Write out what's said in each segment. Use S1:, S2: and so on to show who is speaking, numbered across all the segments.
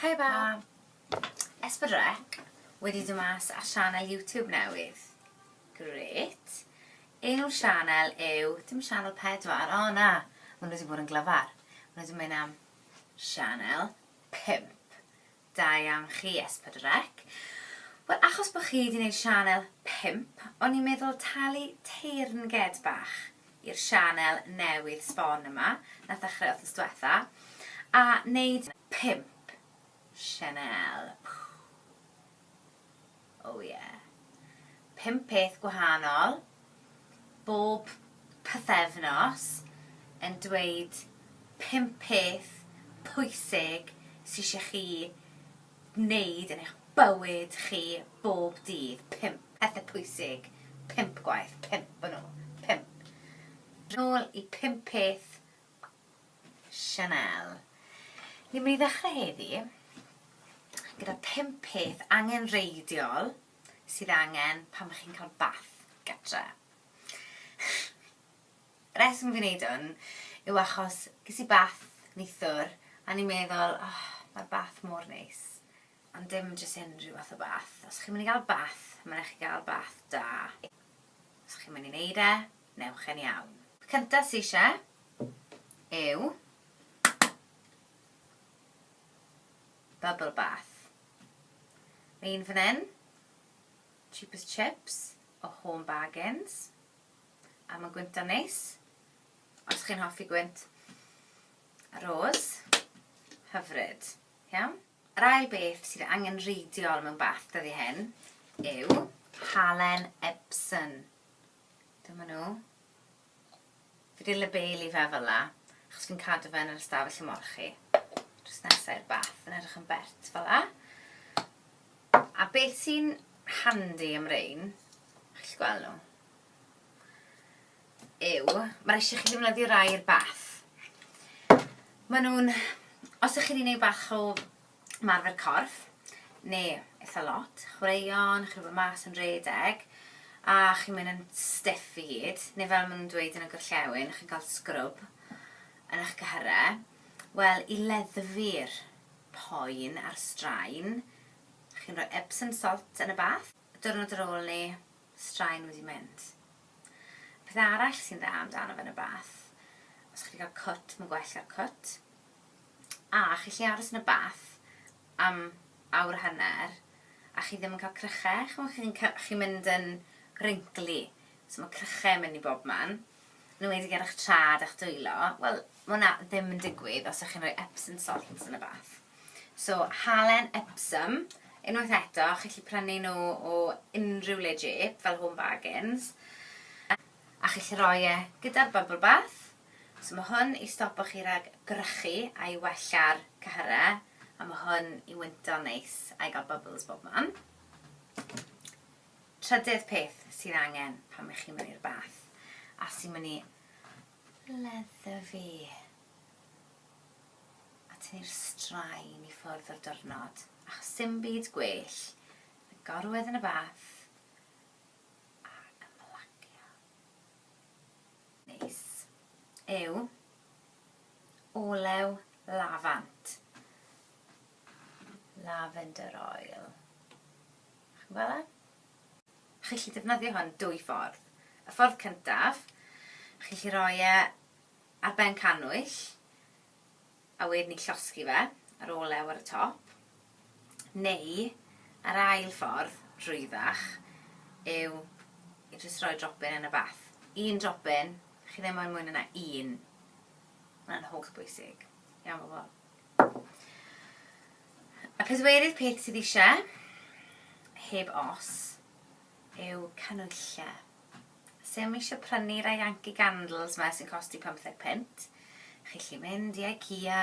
S1: Hi Bab. Esbydrec wedi dod mas ar sianel YouTube newydd. Gret. Enw'r sianel yw, dim sianel pedwar, o na, maen nhw wedi bod yn glyfar. Maen nhw wedi mynd am sianel pimp. Da iawn chi S4C. Wel achos bo chi di neud sianel pump o'n i'n meddwl talu teyrnged bach i'r sianel newydd sbon yma nath ddechrau wthnos dwetha a neud pump sianel. Pww. Oh yeah. Pump peth gwahanol, bob pythefnos, yn dweud pump peth pwysig sy isie chi wneud yn eich bywyd chi bob dydd. Pump pethe pwysig, pump gwaith, pump o nhw. Pump. Nôl i pump peth Chanel. Ni'n mynd i ddechrau heddi gyda pump peth angenrheidiol sydd angen pan mae chi'n cael bath gytre. Reswm fi'n neud hwn yw achos ges i bath neithwr a ni'n meddwl, oh, mae'r bath mor neis. Ond dim jyst unrhyw fath o bath. Os chi'n mynd i gael bath, mae'n rhaid chi gael bath da. Os chi'n mynd i neud e, Newch yn iawn. Cynta sy ishe yw bubble bath. Mae un fan hyn, cheapest chips o Home Bargains, a mae'n gwyntio'n neis. Os chi'n hoffi gwynt rôs, hyfryd. Iawn? Yr ail beth sydd angenrheidiol mewn bath dyddi hyn yw halen Epsom. Dyma nhw. Fi wedi labelu fe fel la, achos fi'n cadw fe yn yr ystafell ymolchi. Drws nesaf i'r bath, yn edrych yn bert fel la. A beth sy'n handi am rein, chi'n gweld nhw, yw, mae'r eisiau chi ddefnyddio rai i'r bath. Maen nhw'n, os ych chi'n ei wneud bach o ymarfer corff, neu eitha lot, chwaraeon, chi'n gwybod, mas yn rhedeg, a chi'n mynd yn stiff i gyd, neu fel maen nhw'n dweud yn y gorllewin, chi'n cael scrwb yn eich cyhyrau, wel, i leddfu'r poen a'r straen, chi'n rhoi Epsom salt yn y bath, diwrnod ar ôl 'ny, straen wedi mynd. Peth arall sy'n dda amdano fe yn y bath, os chi'n cael cwt, mae'n gwell 'da'r cwt. a chi gallu aros yn y bath am awr a hanner a chi ddim yn cael cryche, chimod chi'n ca- chi'n mynd yn wrinkly, so mae cryche yn mynd i bob man, yn enwedig ar eich traed a'ch dwylo, wel mae hwnna ddim yn digwydd os ydych chi'n rhoi Epsom salts yn y bath. So halen Epsom, unwaith eto, chi gallu prynu nhw o unrhyw le jêp fel Home Bargains, a chi gallu rhoi e gyda'r bubble bath, So ma' hwn i stopo chi rag gwrychu a i wella'r cyhyre a ma' hwn i wynto'n neis a i ga'l bubbles bob man. Trydydd peth sydd angen pan ych chi'n mynd i'r bath a sy'n mynd i ledda fi a tynnu'r straen i ffwrdd o'r diwrnod achos sim byd gwell na gorwedd yn y bath Neis yw olew lafant, lavender oil, chi'n gweld e? Chi'n gallu defnyddio hwn dwy ffordd. Y ffordd cyntaf, chi'n gallu rhoi e ar ben cannwyll, A wedyn ni'n llosgi fe ar ôl lew ar y top. Neu, yr ail ffordd, rwyddach, yw i jyst rhoi dropyn yn y bath. Un dropyn, chi ddim moyn mwy na 'na un. Ma'n holl bwysig. Iawn bobl? Y pedwerydd peth sydd eisiau, heb os, yw canwylle. Os yw'm eisiau prynu rai Yankee Candles 'ma sy'n costi pymtheg punt, chi'n gallu mynd i Ikea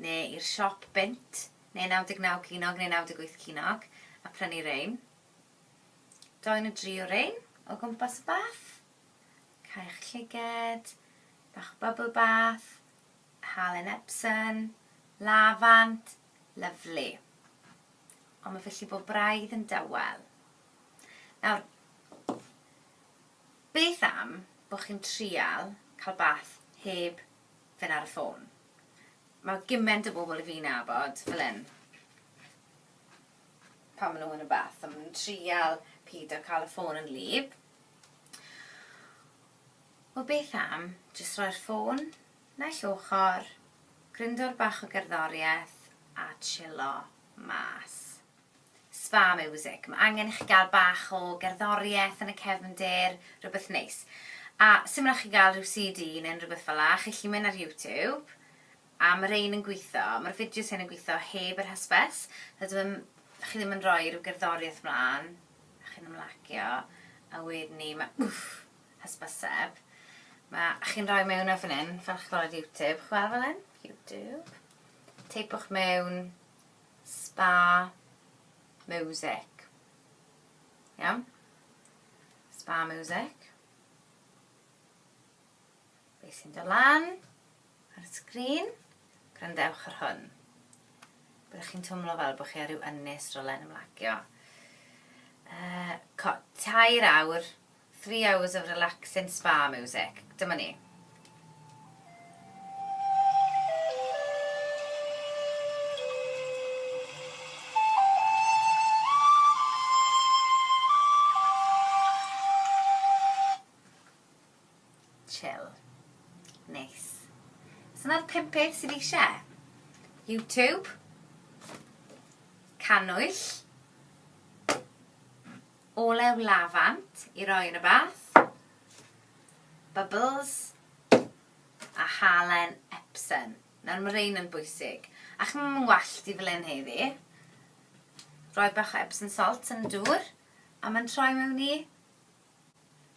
S1: neu i'r siop bunt, neu 99 ceiniog neu 98 ceiniog, a prynu rein. Dou neu dri o rein o gwmpas y bath. Caewch llyged, bach o bubble bath, halen Epsom, lafant, lyfli. Ond mae fy llifo braidd yn dawel. Nawr, beth am bod chi'n trial cael bath heb fynd ar y ffôn? Mae gymaint o bobl i fi'n nabod fel hyn, pan maen nhw yn y bath, a maen nhw'n trial peidio cael y ffôn yn wlyb. Wel, beth am jyst roi'r ffôn naill ochr, grindor bach o gerddoriaeth a chillo mas. Spa miwsig. Mae angen i chi gael bach o gerddoriaeth yn y cefndir, rhywbeth neis. A sut mae'n chi gael rhyw CD neu unrhyw beth fel 'na, chi'n gallu mynd ar YouTube, a ma' rhein yn gwitho, ma'r fideos hyn yn gwitho heb yr hysbys, so dyw e ddim, chi ddim yn rhoi rhyw gerddoriaeth mlan, a chi'n ymlacio, a wedyn 'ny ma' wff, hysbyseb. Ma', a chi'n rhoi mewn e fan 'yn, fel chi'n gweld ar YouTube, chi'n gweld fel 'yn? YouTube. Teipiwch mewn, Spa music. Iawn? Spa music. Be sy'n dod lan ar y sgrin? Grandewch ar hwn. Byddwch chi'n twmlo fel bod chi ar ryw ynnes rolen ymlagio. Uh, tair awr Three hours of relaxing spa music. Dyma ni. Chill. Neis. So na'r pum peth sydd eisiau. YouTube. Canwyll. Olew lafant i roi yn y bath. Bubbles. A halen Epsom. Nawr mae rhain yn bwysig. A chi'n mynd yn wallt i fel hyn heddi. Rhoi bach o Epsom salt yn y dŵr. A mae'n troi mewn i...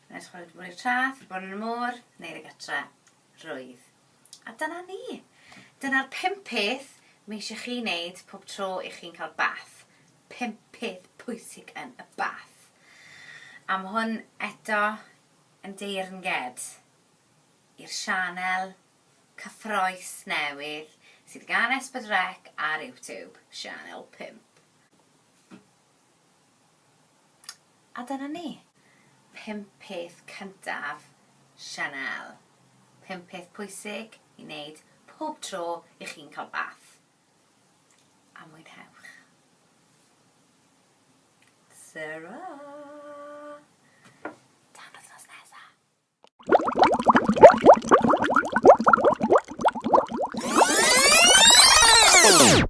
S1: Mae'n edrych wedi bod i'r traeth, wedi bod yn y môr, neu y gytre. Rwydd. A dyna ni. Dyna'r pump peth mae eisiau chi wneud pob tro i chi'n cael bath. Pump peth pwysig yn y bath. A mae hwn eto yn deyrnged i'r sianel cyffroes newydd sydd gan Esbyd Rec ar YouTube, Sianel 5. A dyna ni. Pump peth cyntaf Chanel. Pump peth pwysig i wneud pob tro i chi'n cael bath. A mwynhewch. Tara! Tan wythnos nesa. Thank you.